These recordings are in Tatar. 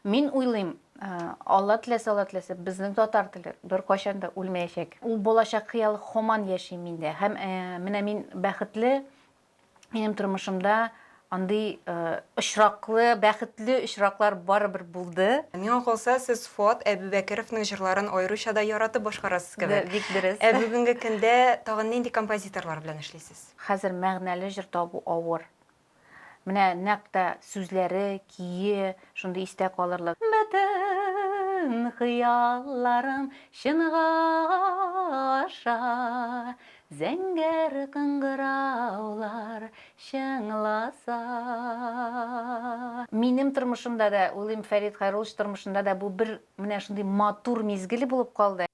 Мин уйлыйм, Алла теләсә, Алла теләсә, безнең татар теле беркайчан да үлмәячәк. Ул балачак хыял һаман яши миндә. Һәм менә мин бәхетле, минем тормышымда андый очраклы, бәхетле очраклар барыбер булды. Миңа калса, сез Фоат Әбүбәкеровның җырларын аеруча да яратып башкарасыз кебек. Бик дөрес. Ә бүгенге көндә тагын нинди композиторлар белән эшлисез? Хәзер мәгънәле җыр табу авыр. Менә нәкъ тә сүзләре, көе шундый истә калырлык. Бөтен хыялларым чынга аша, Зәңгәр кыңгыраулар чыңласа. Минем тормышымда да, уйлыйм, Фәрит Хәйруллович тормышында да бу бер менә шундый матур мизгел булып калды.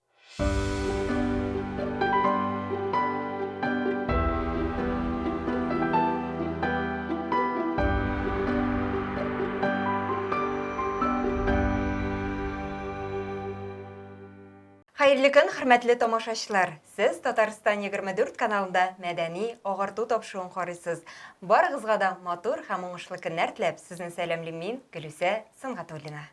Хәерле көн, хөрмәтле тамашачлар! Сез Татарстан 24 каналында мәдәни агарту тапшыруын карыйсыз. Барыгызга да матур һәм уңышлы көннәр теләп, сезне сәламлим мин, Гөлүсә Сөнгатуллина.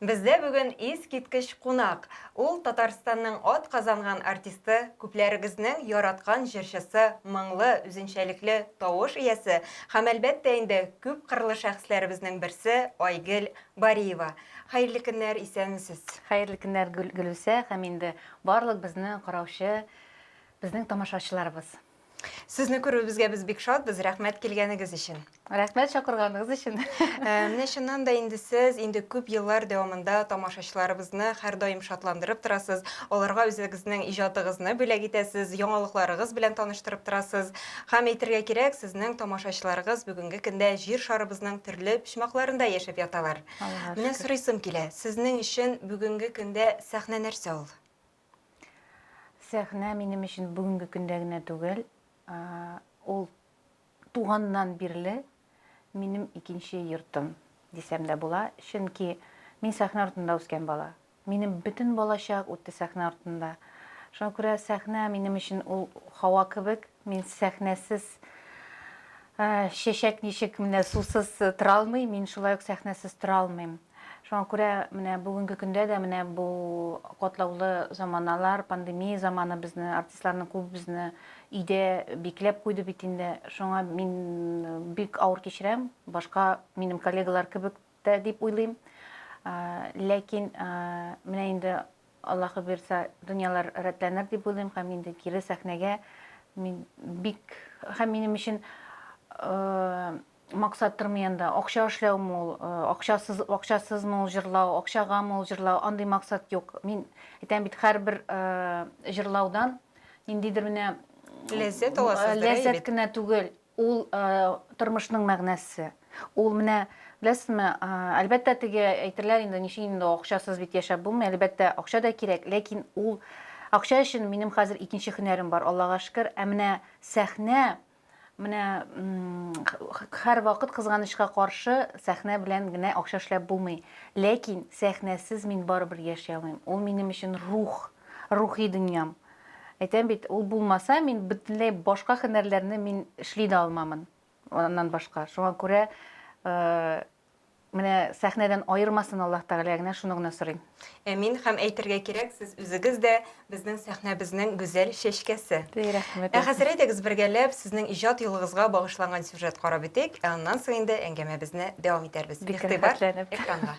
Бездә бүген искиткеч кунак, ул Татарстанның атказанган артисты, күпләрегезнең яраткан җырчысы, моңлы, үзенчәлекле тавыш иясе һәм, әлбәттә инде, күпкырлы шәхесләребезнең берсе Айгөл Бариева. Хәерле көннәр, исәнмесез! Хәерле көннәр, Гөлүсә һәм инде барлык безне караучы, безнең тамашачыларыбыз! Сезне күрүебезгә без бик шатбыз. Рәхмәт килгәнегез өчен. Рәхмәт чакырганыгыз өчен. Ә, Менә чыннан да инде сез инде күп еллар дәвамында тамашачыларыбызны һәрдаим шатландырып торасыз. Аларга үзегезнең иҗатыгызны бүләк итәсез, яңалыкларыгыз белән таныштырып торасыз. Һәм әйтергә кирәк, сезнең тамашачыларыгыз бүгенге көндә җир шарыбызның төрле почмакларында яшәп яталар. Аллага Менә шөкер. сорыйсым килә, сезнең өчен бүгенге көндә сәхнә нәрсә ул? Сәхнә минем өчен бүгенге көндә генә түгел, ул туганнан бирле минем икенче йортым дисәм дә була, чөнки мин сәхнә артында үскән бала. Минем бөтен балачак үтте сәхнә артында. Шуңа күрә сәхнә минем өчен ул һава кебек, мин сәхнәсез чәчәк ничек менә сусыз тора алмый, мин шулай ук сәхнәсез тора алмыйм. Шуңа күрә менә бүгенге көндә дә менә бу катлаулы заманалар, пандемия заманы безне, артистларның күбебезне өйдә бикләп куйды бит инде. Шуңа мин бик авыр кичерәм, башка минем коллегалар кебек тә дип уйлыйм. Ләкин менә инде Аллаһы бирса, дөньялар рәтләнер дип уйлыйм һәм инде кире сәхнәгә мин бик һәм минем өчен Максаттыр мый анда акча эшләү мул, акчасыз акчасыз мул җырлау, акчага мул җырлау, андый максат юк. Мин әйтәм бит, һәрбер җырлаудан ниндидер менә ләззәт аласыз. Ләззәт кенә түгел, ул тормышның мәгънәсе. Ул менә беләсезме, әлбәттә теге әйтерләр инде, ничек инде акчасыз бит яшәп булмый, әлбәттә акча да кирәк, ләкин ул акча өчен минем хәзер икенче һөнәрем бар, Аллага шөкер, ә менә сәхнә Менә хәр вакыт кызганычка каршы сәхнә белән генә акча эшләп булмый. Ләкин сәхнәсез мин барыбер яши алмыйм. Ул минем өчен рух, рухи дөньям. Әйтәм бит, ул булмаса, мин бөтенләй башка һөнәрләрне мин эшли дә алмамын. Аннан башка. Шуңа күрә Менә сәхнәдән аермасын Аллаһ Тәгалә генә, шуны гына сорыйм. Әмин, һәм әйтергә кирәк, сез үзегез дә, безнең сәхнәбезнең гүзәл чәчкәсе. Ди, рәхмәт. Ә хәзер әйдәгез бергәләп сезнең иҗат юлыгызга багышланган сюжет карап үтик, ә аннан соң инде әңгәмәбезне дәвам итәрбез. Бик рәхәтләнеп. Игътибар экранга.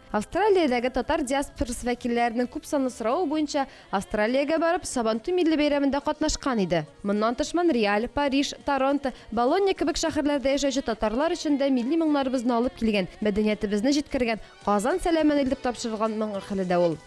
Австралиядәге татар диаспорасы вәкилләренең күпсанлы соравы буенча, Австралиягә барып, Сабантуй милли бәйрәмендә катнашкан иде. Моннан тыш Монреаль, Париж, Торонто, Болонья кебек шәһәрләрдә яшәүче татарлар өчен дә милли моңнарыбызны алып килгән, мәдәниятебезне җиткергән, Казан сәламен илтеп тапшырылган моңгы каләдә ул.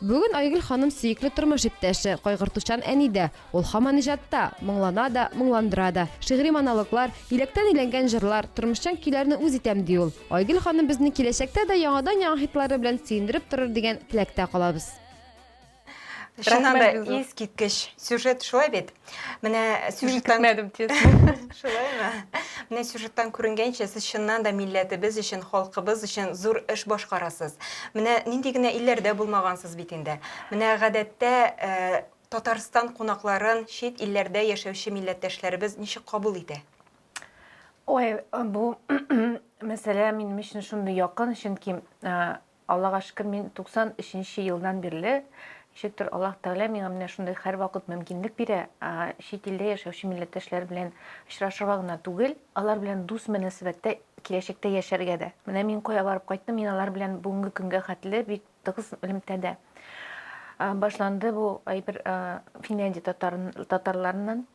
Бүген Айгөл ханым сөекле тормыш иптәше, кайгыртучан әни дә. Ул һаман иҗатта, моңлана да, моңландыра да. Шигъри монологлар, иләктән иләнгән җырлар, тормышчан көйләрне үз итәм, ди ул. Айгөл ханым безне киләчәктә дә яңадан-яңа хитлары белән сөендереп торыр дигән теләктә калабыз. Чыннан да, искиткеч сюжет, шулай бит? Менә сюжеттан көтмәдем честно. Шулаймы? Менә сюжеттан күренгәнчә, сез чыннан да милләтебез өчен, халкыбыз өчен зур эш башкарасыз. Менә нинди генә илләрдә булмагансыз бит инде. Менә гадәттә э, Татарстан кунакларын чит илләрдә яшәүче милләттәшләребез ничек кабул итә? Ой, бу мәсьәлә минем өчен шундый якын, чөнки э, Аллага шөкер, мин 93 нче елдан бирле, ничектер Аллаһ Тәгалә миңа менә шундый һәрвакыт мөмкинлек бирә, чит илдә яшәүче милләттәшләр белән очрашырга гына түгел, алар белән дус мөнәсәбәттә киләчәктә яшәргә дә. Менә мин кая барып кайттым, мин алар белән бүгенге көнгә хәтле бик тыгыз элемтәдә. Башланды бу әйбер Финляндия татарларыннан.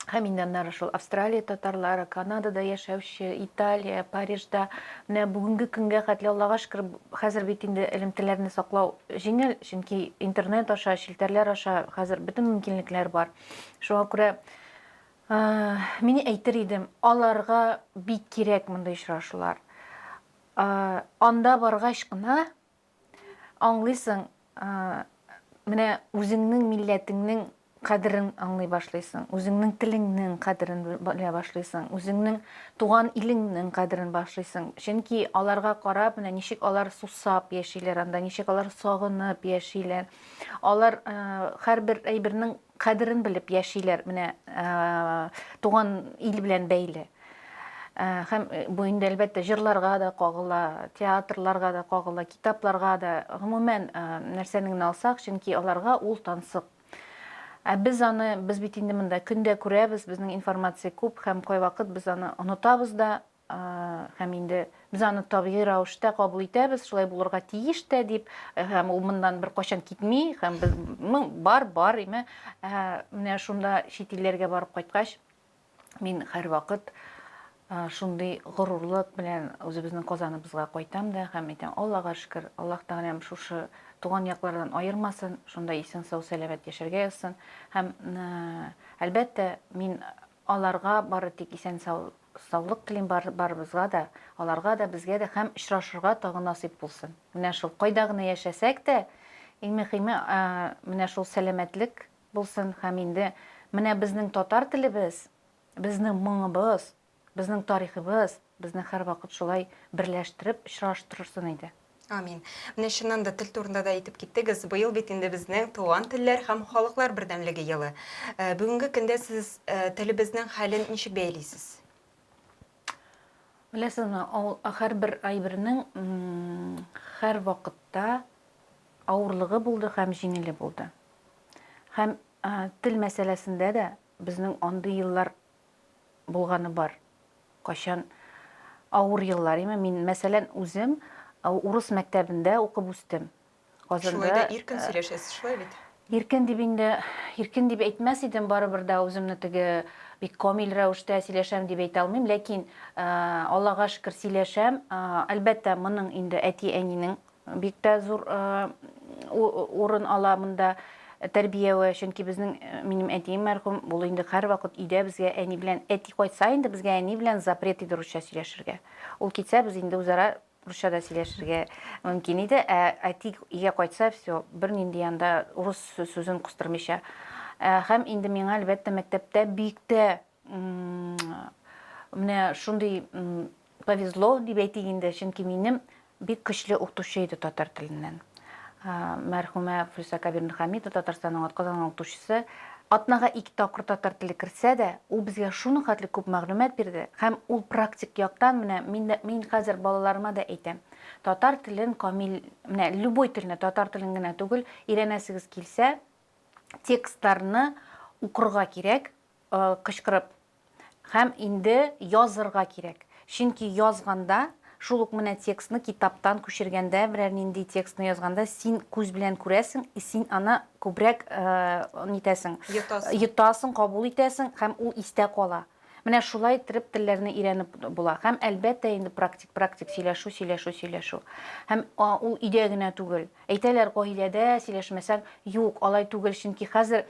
Һәм инде аннары шул Австралия татарлары, Канадада яшәүче, Италия, Парижда менә бүгенге көнгә хәтле Аллага шөкер, хәзер бит инде элемтәләрне саклау җиңел, чөнки интернет аша, челтәрләр аша хәзер бөтен мөмкинлекләр бар. Шуңа күрә мин әйтер идем, аларга бик кирәк мондый очрашулар. Анда баргач кына Аңлыйсың, менә үзеңнең милләтеңнең кадерен аңлый башлыйсың, үзеңнең телеңнең кадерен белә башлыйсың, үзеңнең туган илеңнең кадерен башлыйсың. Чөнки аларга карап, менә ничек алар сусап яшиләр анда, ничек алар сагынып яшиләр. Алар һәрбер әйбернең Кадерен белеп яшиләр, менә туган ил белән бәйле. Һәм бу инде әлбәттә җырларга да кагыла, театрларга да кагыла, китапларга да, гомумән нәрсәне генә алсак, чөнки аларга ул тансык. Ә без аны, без бит инде монда көндә күрәбез, безнең информация күп һәм кайвакыт без аны онытабыз да, Һәм инде без аны табигый рәвештә кабул итәбез, шулай булырга тиеш тә дип, һәм ул моннан беркайчан китми, һәм без ну, бар, бар, име. Менә шунда чит илләргә барып кайткач, мин һәрвакыт шундый горурлык белән үзебезнең Казаныбызга кайтам да һәм әйтәм, Аллага шөкер, Аллаһ Тәгаләм шушы туган яклардан аермасын, шунда исән сау сәламәт яшәргә язсын. Һәм әлбәттә, мин Аларга бары тик исән сау саулык телим бар барыбызга да, аларга да, безгә дә һәм очрашырга тагы насыйп булсын. Менә шул кайда гына яшәсәк тә, иң мөхиме менә шул сәламәтлек булсын һәм инде менә безнең татар телебез, безнең моңыбыз, безнең тарихыбыз безне һәрвакыт шулай берләштереп очраштырырсын иде. Амин. Менә чыннан да тел турында да әйтеп киттегез. Быел бит инде безнең туган телләр һәм халыклар бердәмлеге елы. Э, бүгенге көндә сез э, телебезнең хәлен ничек бәйлисез? Беләсезме, ул һәрбер әйбернең һәр вакытта авырлыгы булды һәм җиңеле булды. Һәм тел мәсьәләсендә дә безнең андый еллар булганы бар, кайчан авыр еллар име, мин мәсәлән үзем урыс мәктәбендә укып үстем. Казанда Шулай да иркен сөйләшәсез, шулай бит? Иркен дип инде, иркен дип әйтмәс идем, барыбер дә үземне теге бик камил рәвештә сөйләшәм дип әйтә алмыйм, ләкин Аллага шөкер сөйләшәм. Әлбәттә, моның инде әти-әнинең Бик тә зур урын ала монда тәрбияе, чөнки безнең, минем әтием мәрхүм, ул инде һәрвакыт өйдә безгә әни белән, әти кайтса инде безгә әни белән запрет иде русча сөйләшергә. Ул китсә, без инде үзара русча да сөйләшергә мөмкин иде, ә әти өйгә кайтса, все, бернинди анда урыс сүзен кыстырмыйча. Һәм инде миңа, әлбәттә, мәктәптә бик тә Менә шундый повезло дип әйтик инде, чөнки минем бик көчле укытучы иде татар теленнән. Мәрхүмә Флюса Кабирна Хамида Татарстанның атказанган укытучысы атнага ике тапкыр татар теле керсә дә, ул безгә шуның хәтле күп мәгълүмат бирде, һәм ул практик яктан менә мин мин хәзер балаларыма да әйтәм. Татар телен камил, менә любой телне, татар телен генә түгел, өйрәнәсегез килсә, текстларны укырга кирәк, Кычкырып. Һәм инде язырга кирәк. Чөнки язганда, шул ук менә текстны китаптан күчергәндә, берәр нинди текстны язганда, син күз белән күрәсең, и син аны күбрәк нитәсең, йотасың, йотасың, кабул итәсең һәм ул истә кала. Менә шулай иттереп телләрне өйрәнеп була. Һәм, әлбәттә, инде практик, практик сөйләшү, сөйләшү, сөйләшү. Һәм ул өйдә генә түгел. Әйтәләр, гаиләдә сөйләшмәсәң, юк, алай түгел, чөнки хәзер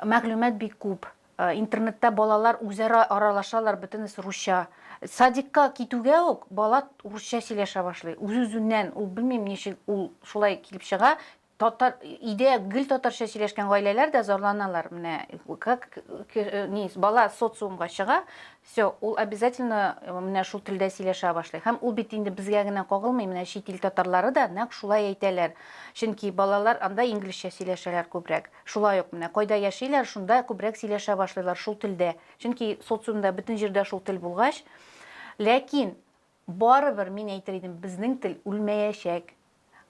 мәгълүмат бик күп. Э, интернетта балалар үзара аралашалар бөтенесе русча садикка китүгә үк бала урысча сөйләшә башлый үз үзеннән ул белмим ничек ул шулай килеп чыга татар өйдә гел татарча сөйләшкән гаиләләр дә зарланалар менә как э, не бала социумга чыга все ул обязательно э, менә шул телдә сөйләшә башлый һәм ул бит инде безгә генә кагылмый менә чит ил татарлары да нәкъ шулай әйтәләр чөнки балалар анда инглизчә сөйләшәләр күбрәк Шулай ук, менә кайда яшиләр, шунда күбрәк сөйләшә башлыйлар шул телдә. Чөнки социумда бөтен җирдә шул тел булгач. Ләкин, барыбер мин әйтер идем, безнең тел үлмәячәк.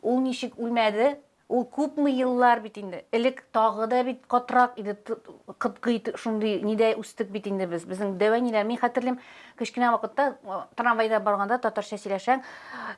Ул ничек үлмәде? Ул күпме еллар бит инде. Элек тагы да бит катырак иде, кытгый шундый нидә үстек бит инде без. Безнең дәү әниләр, мин хәтерлим, Кечкенә вакытта трамвайда барганда татарча сөйләшәң,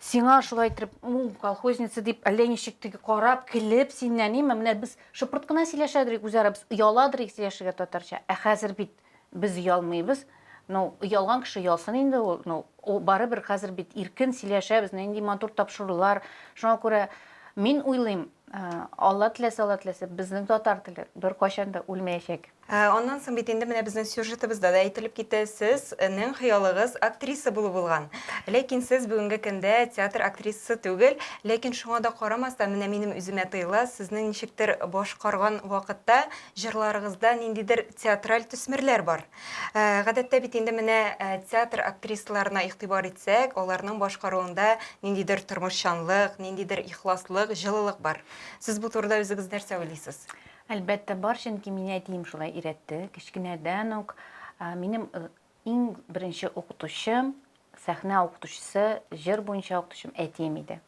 сиңа шулай итеп, колхозница дип, әллә ничек теге карап, килеп синнән, ниме, менә без шыпырт кына сөйләшәдерик үзара, без ояладырик сөйләшергә татарча. Ә хәзер бит без оялмыйбыз. Ну, оялган кеше оялсын инде ул. Ну, барыбер хәзер бит иркен сөйләшәбез, нинди матур тапшырулар. Шуңа күрә мин уйлыйм, Алла теләсә, Алла теләсә, безнең татар теле беркайчан да үлмәячәк. Ә аннан соң бит инде менә безнең сюжетыбызда да әйтелеп китә, сез нең хыялыгыз актриса булу булган. Ләкин сез бүгенге көндә театр актрисасы түгел, ләкин шуңа да карамастан, менә минем үземә тоела, сезнең ничектер башкарган вакытта җырларыгызда ниндидер театраль төсмерләр бар. Ә гадәттә бит инде менә театр актрисаларына игътибар итсәк, аларның башкаруында ниндидер тормышчанлык, ниндидер ихласлык, җылылык бар. Сез бу турыда үзегез нәрсә уйлыйсыз? Әлбәттә бар, чөнки мине әтием шулай өйрәтте. Кечкенәдән үк минем иң беренче укытучым, сәхнә укытучысы, җыр буенча укытучым әтием иде.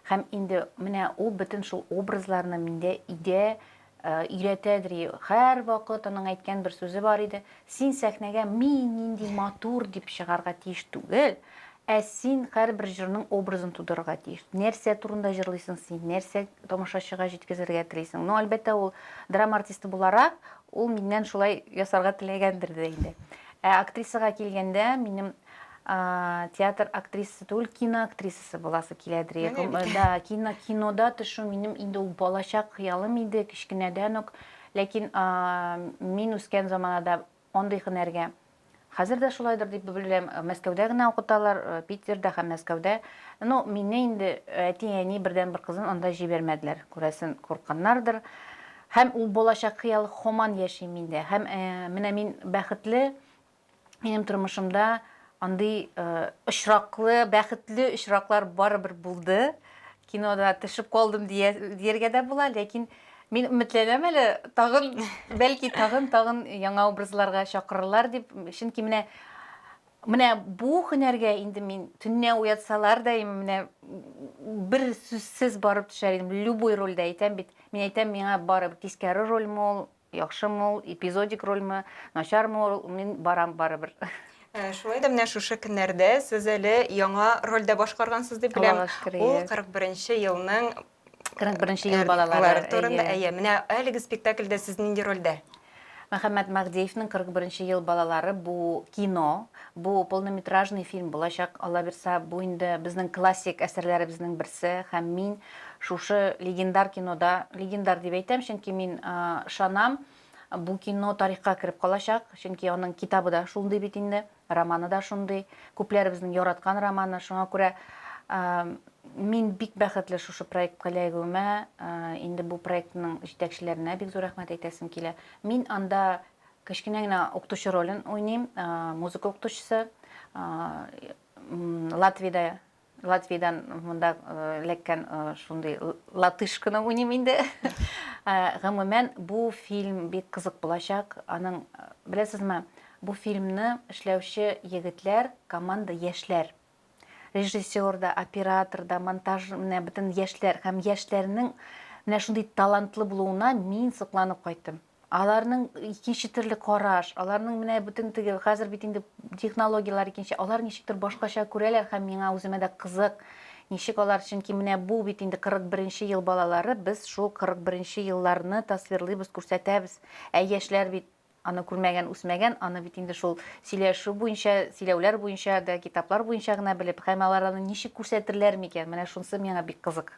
Һәм инде менә ул бөтен шул образларны миндә идә, өйрәтә дри. Һәрвакыт аның әйткән бер сүзе бар иде, Син сәхнәгә мин нинди матур дип чыгарга тиеш түгел, ә син һәрбер җырның образын тудырырга тиеш. Нәрсә турында җырлыйсың син, нәрсә тамашачыга җиткезергә телисең. Ну, әлбәттә, ул драма артисты буларак, ул миннән шулай ясарга теләгәндер дә инде. Ә актрисага килгәндә, минем театр актрисасы түгел, кино актрисасы буласы киләдер. Менә бит. Да, кино, кинода төшү минем инде ул балачак хыялым иде, кечкенәдән үк. Ләкин мин үскән заманада андый һөнәргә Хәзер дә шулайдыр дип беләм. Мәскәүдә генә укыталар, э, Питерда һәм Мәскәүдә. Ну, мине инде әти-әни бердән бер кызын анда җибәрмәделәр. Күрәсен, куркканнардыр. Һәм ул балачак хыял хоман яши миндә. Һәм э, менә мин бәхетле, Минем тормышымда андый очраклы, бәхетле очраклар барыбер булды. Кинода төшеп калдым дияргә дә була, ләкин Мин өметләнәм әле, тагын, бәлки тагын, тагын яңа образларга чакырырлар дип, чөнки менә менә бу һөнәргә инде мин төннә уятсалар да менә бер сүзсез барып төшәр идем любой рольдә әйтәм бит мин әйтәм миңа барып кискәре рольме ул Яхшымы ул, эпизодик рольме, начармы ул, мин барам барыбер. Шулай да менә шушы көннәрдә сез әле яңа рольдә башкаргансыз дип беләм. Аллага шөкер, әйе. Ул 41 нче елның 41 нче ел балалары турында. Әйе, менә әлеге спектакльдә сез нинди рольдә? Мөхәммәт Мәһдиевнең 41 нче ел балалары бу кино, бу полнометражный фильм булачак. Алла бирса, бу инде безнең классик әсәрләребезнең берсе һәм мин Шушы легендар кинода, легендар дип әйтәм, чөнки мин ышанам, бу кино тарихка кереп калачак, чөнки аның китабы да шундый бит инде, романы да шундый, күпләребезнең яраткан романы, шуңа күрә мин бик бәхетле шушы проектка эләгүемә, инде бу проектның җитәкчеләренә бик зур рәхмәт әйтәсем килә. Мин анда кечкенә генә укытучы ролен уйныйм, музыка укытучысы, Латвиядә Латвиядән монда эләккән шундый латыш кына уйныйм инде. Гомумән, бу фильм бик кызык булачак. Аның, беләсезме, бу фильмны эшләүче егетләр, команда яшьләр. Режиссер да, оператор да, монтаж, менә бөтен яшьләр һәм яшьләрнең менә шундый талантлы булуына мин сокланып кайттым. Аларның икенче төрле караш, аларның менә бөтен теге, хәзер бит инде технологияләр икенче, алар ничектер башкача күрәләр һәм миңа үземә дә кызык, ничек алар, чөнки менә бу бит инде 41 нче ел балалары, без шул 41 нче елларны тасвирлыйбыз, күрсәтәбез. Ә яшьләр бит аны күрмәгән, үсмәгән, аны бит инде шул сөйләшү буенча, сөйләүләр буенча да, китаплар буенча гына белеп, һәм алар аны ничек күрсәтерләр микән, менә шунысы миңа бик кызык.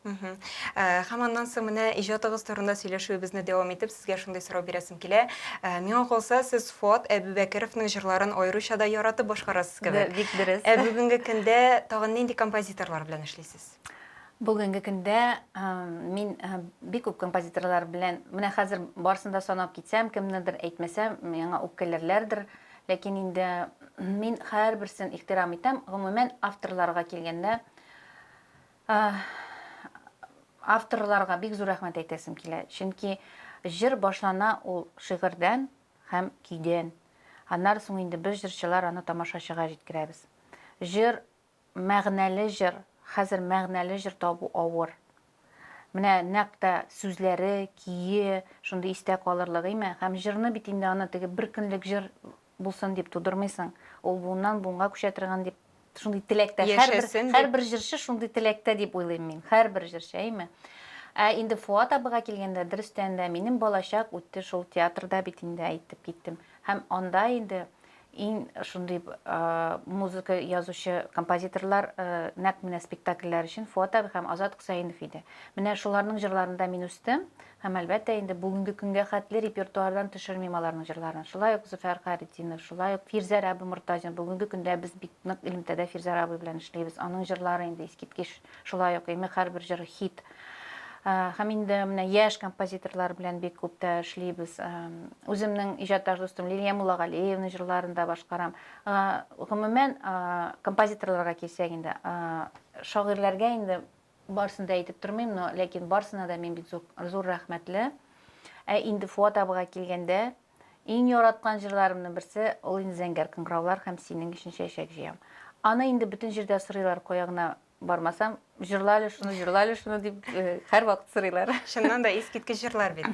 Мхм. Ә, Һәм аннан соң менә иҗатыгыз турында сөйләшүебезне дәвам итеп, сезгә шундый сорау бирәсем килә. Ә, Миңа калса, сез Фоат Әбүбәкеровның җырларын аеруча да яратып башкарасыз Бе- кебек. Бик дөрес. Ә бүгенге көндә тагын нинди композиторлар белән эшлисез? Бүгенге көндә ә, мин ә, бик күп композиторлар белән, менә хәзер барысын да санап китсәм, кемнедер әйтмәсәм, миңа үпкәләрләрдер. Ләкин инде мин һәрберсен ихтирам итәм. Гомумән, авторларга килгәндә, Авторларга бик зур рәхмәт әйтәсем килә, чөнки җыр башлана ул шигырьдән һәм көйдән. Аннары соң инде без җырчылар аны тамашачыга җиткерәбез. Җыр, мәгънәле җыр, хәзер мәгънәле җыр табу авыр. Менә нәкъ тә сүзләре, көе шундый истә калырлык, име? Һәм җырны бит инде аны теге бер көнлек җыр булсын дип тудырмыйсың. Ул буыннан буынга күчә торган дип шундый теләктә. Яшәсен. Һәрбер җырчы шундый теләктә дип уйлыйм мин. Һәрбер җырчы, әйме? Ә инде Фуат абыга килгәндә, дөрестән дә, минем балачак үтте шул театрда бит инде, әйтеп киттем. Һәм анда инде иң шундый музыка язучы композиторлар нәкъ менә спектакльләр өчен Фуат абый һәм Азат Хөсәенов иде. Менә шуларның җырларында мин үстем, Һәм, әлбәттә инде, бүгенге көнгә хәтле репертуардан төшермим аларның җырларын. Шулай ук Зөфәр Хайретдинов, шулай ук Фирзәр абый Мортазин. Бүгенге көндә без бик нык элемтәдә Фирзәр абый белән эшлибез. Аның җырлары инде искиткеч. Шулай ук Имек һәрбер җыры хит. Һәм инде менә яшь композиторлар белән бик күп тә эшлибез. Үземнең иҗатташ дустым Лилия Муллагалиевна җырларын да башкарам. Гомумән, композиторларга килсәк инде, шагыйрьләргә инде Барсын да әйтеп тормыйм, но ләкин барсына да мин бит зур, зур рәхмәтле. Ә инде Фуат абыга килгәндә, иң яраткан җырларымның берсе, ул инде Зәңгәр кыңгыраулар һәм Синең өчен чәчәк җыям. Аны инде бөтен җирдә сорыйлар, кая гына бармасам, җырла әле шуны, җырла әле шуны дип, э, һәрвакыт сорыйлар. Чыннан да искиткеч җырлар бит.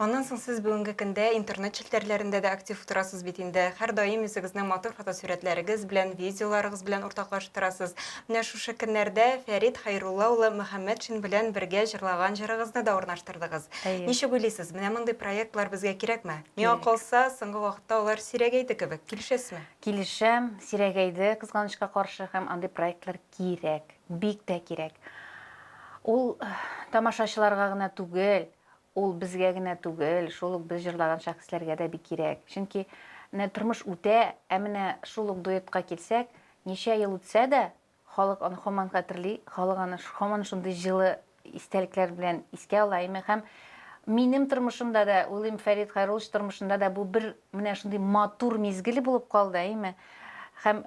Аннан соң сез бүгенге көндә интернет челтәрләрендә дә актив утырасыз бит инде. Һәрдаим үзегезнең матур фотосурәтләрегез белән, видеоларыгыз белән уртаклаштырасыз. Менә шушы көннәрдә Фәрит Хәйрулла улы Мөхәммәтшин белән бергә җырлаган җырыгызны да урнаштырдыгыз. Әйе. Ничек уйлыйсыз, менә мондый проектлар безгә кирәкме? Миңа калса, соңгы вакытта алар сирәгәйде кебек. Килешәсезме? Килешәм, сирәгәйде, кызганычка каршы, һәм андый проектлар Кирәк, бик тә кирәк. Ул тамашачыларга гына түгел, ул безгә генә түгел, шул ук без җырлаган шәхесләргә дә бик кирәк. Чөнки менә тормыш үтә, ә менә шул ук дуэтка килсәк, ничә ел үтсә дә, халык аны һаман хәтерли, халык аны һаман шундый җылы истәлекләр белән искә алайм һәм минем тормышымда да, уйлыйм, Фәрит Хайруллович тормышында да бу бер менә шундый матур мизгел булып калды, әйме? Һәм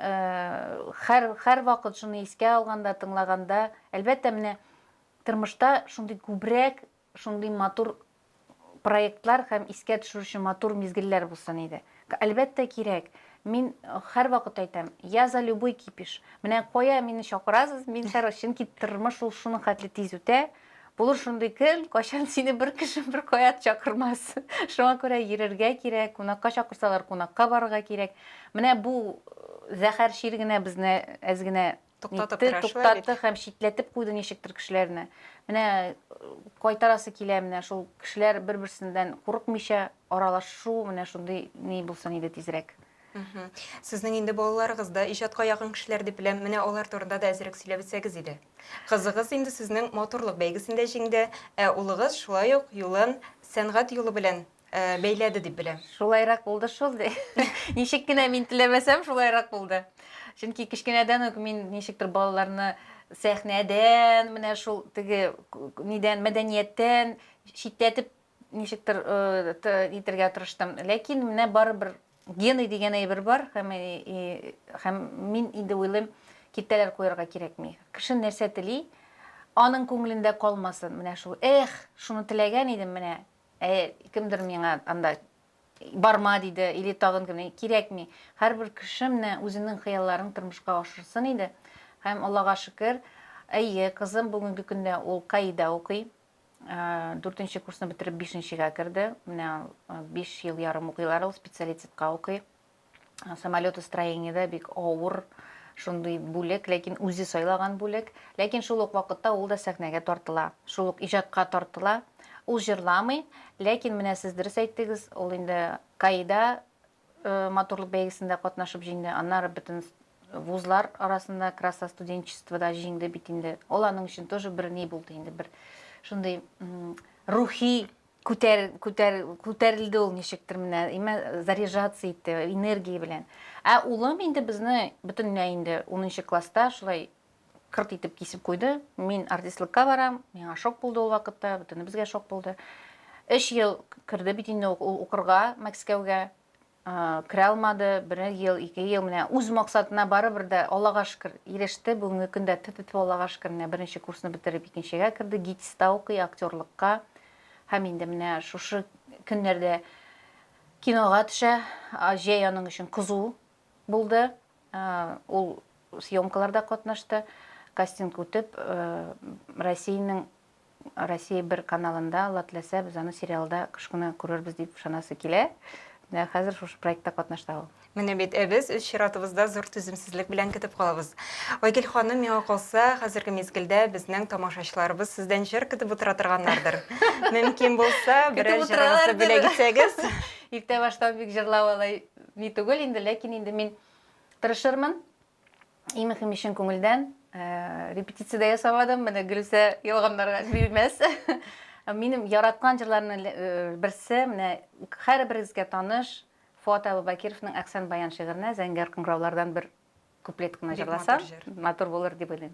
хәр, хәр вакыт шуны искә алганда, тыңлаганда, әлбәттә, менә тормышта шундый күбрәк шундый матур проектлар һәм искә төшерүче матур мизгелләр булсын иде. Әлбәттә, кирәк. Мин һәрвакыт әйтәм, я за любой кипиш. Менә кая мине чакырасыз, мин һәр чөнки тормыш ул шуның хәтле тиз үтә. Булыр шундый көн, кайчан сине бер кеше бер кая чакырмас. Шуңа күрә йөрергә кирәк, кунакка чакырсалар, кунакка барырга кирәк. Менә бу зәһәр чир генә безне әз генә Туктатып Нитте, керәшли бит. туктатты һәм читләтеп куйды ничектер кешеләрне. Менә э, кайтарасы килә менә шул кешеләр бер-берсеннән курыкмыйча аралашу менә шундый ни булсын иде тизрәк. Мгм. Сезнең инде балаларыгыз да иҗатка якын кешеләр дип беләм. Менә алар турында да әзрәк сөйләп үтсәгез иде. Кызыгыз инде сезнең матурлык бәйгесендә җиңде, ә улыгыз шулай ук юлын сәнгать юлы белән бәйләде дип беләм. Шулайрак булды шул, ди. Ничек кенә мин теләмәсәм, шулайрак булды. Чөнки кечкенәдән үк мин ничектер балаларны сәхнәдән, менә шул теге нидән, мәдәнияттән читләтеп ничектер итергә тырыштым. Ләкин менә барыбер гены дигән әйбер бар һәм һәм мин инде уйлыйм, киртәләр куярга кирәкми. Кеше нәрсә тели, аның күңелендә калмасын. Менә шул, эх, шуны теләгән идем, менә Ә кемдер миңа анда барма диде, или тагын кем, кирәкми. Һәрбер кеше менә үзенең хыялларын тормышка ашырсын иде. Һәм Аллага шөкер, әйе, кызым бүгенге көндә ул Каида укый. Дүртенче курсны бетереп, бишенчегә керде. Менә биш ел ярым укыйлар ул, специалитетка укый. самолетостроениедә бик авыр шундый бүлек, ләкин үзе сайлаган бүлек. Ләкин шул ук вакытта ул да сәхнәгә тартыла, шул ук иҗатка тартыла. Ул җырламый, ләкин менә сез дөрес әйттегез, ул инде КАИда э, матурлык бәйгесендә катнашып җиңде, аннары бөтен вузлар арасында краса студенчествода җиңде бит инде. Ул аның өчен тоже бер ни булды инде, бер шундый рухи Күтәр, күтәр, күтәрелде ул ничектер менә, имә заряжаться итте энергия белән. Ә улым инде безне бөтенләй инде 10 класста шулай кырт итеп кисеп куйды. Мин артистлыкка барам, миңа шок булды ул вакытта, бөтенебезгә шок булды. Өч ел керде бит инде укырга Мәскәүгә. Керә алмады, бер ел, ике ел, менә үз максатына барыбер дә, Аллага шөкер, иреште, бүгенге көндә тфү-тфү, Аллага шөкер, менә беренче курсны бетереп икенчегә керде, ГИТИСта укый, актерлыкка, һәм инде менә шушы көннәрдә кинога төшә, җәй аның өчен кызу булды, ул съемкаларда катнашты, кастинг үтеп, Россиянең Россия бер каналында, Алла теләсә, без аны сериалда кыш көне күрербез дип ышанасы килә. Менә хәзер шушы проектта катнашта ул. Менә бит, ә без үз чиратыбызда зур түземсезлек белән көтеп калабыз. Айгөл ханым, миңа калса, хәзерге мизгелдә безнең тамашачыларыбыз сездән җыр көтеп утыра торганнардыр. Мөмкин булса, берәр Көтеп җырыгызны утыралардыр. бүләк итсәгез. Иртә баштан бик җырлау алай ни түгел инде, ләкин инде мин тырышырмын. Иң мөһиме чын күңелдән. Э, репетиция дә ясамадым. Менә Гөлүсә ялганнарга бирмәс. Минем яраткан җырларның э, берсе, менә һәрберегезгә таныш Фуат Абубакировның Әхсән баян шигыренә зәңгәр кыңгыраулардан бер куплет кына җырласам, матур булыр дип уйлыйм.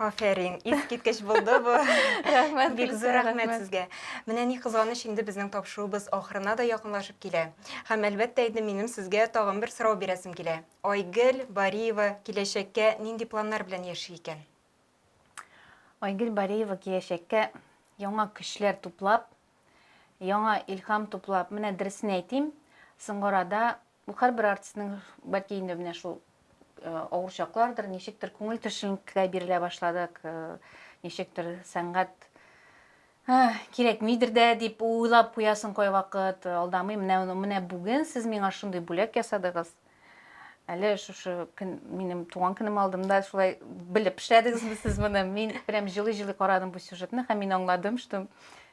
Афәрин, искиткеч булды бу. Рәхмәт, бик зур рәхмәт сезгә. Менә ни кызганыч, инде безнең тапшыруыбыз ахырына да якынлашып килә. Һәм әлбәттә инде минем сезгә тагын бер сорау бирәсем килә. Айгөл Бариева киләчәккә нинди планнар белән яши икән? Айгөл Бариева киләчәккә яңа көчләр туплап, яңа илһам туплап, менә дөресен әйтим, соңгы арада Бу һәрбер артистның, бәлки инде менә шул авыр чаклардыр, ничектер күңел төшенкеләй бирелә башладык, ничектер сәнгать кирәкмидер дә дип уйлап куясың кайвакыт алдамый менә менә бүген сез миңа шундый бүләк ясадыгыз әле шушы көн минем туган көнем алдымда шулай белеп эшләдегезме сез моны мин прям жылый жылый карадым бу сюжетны һәм мин аңладым что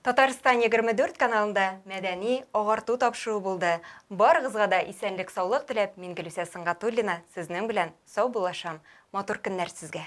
Татарстан 24 каналында мәдәни агарту тапшыруы булды. Барыгызга да исәнлек-саулык теләп, мин Гөлүсә Сөнгатуллина сезнең белән сау булашам. Матур көннәр сезгә!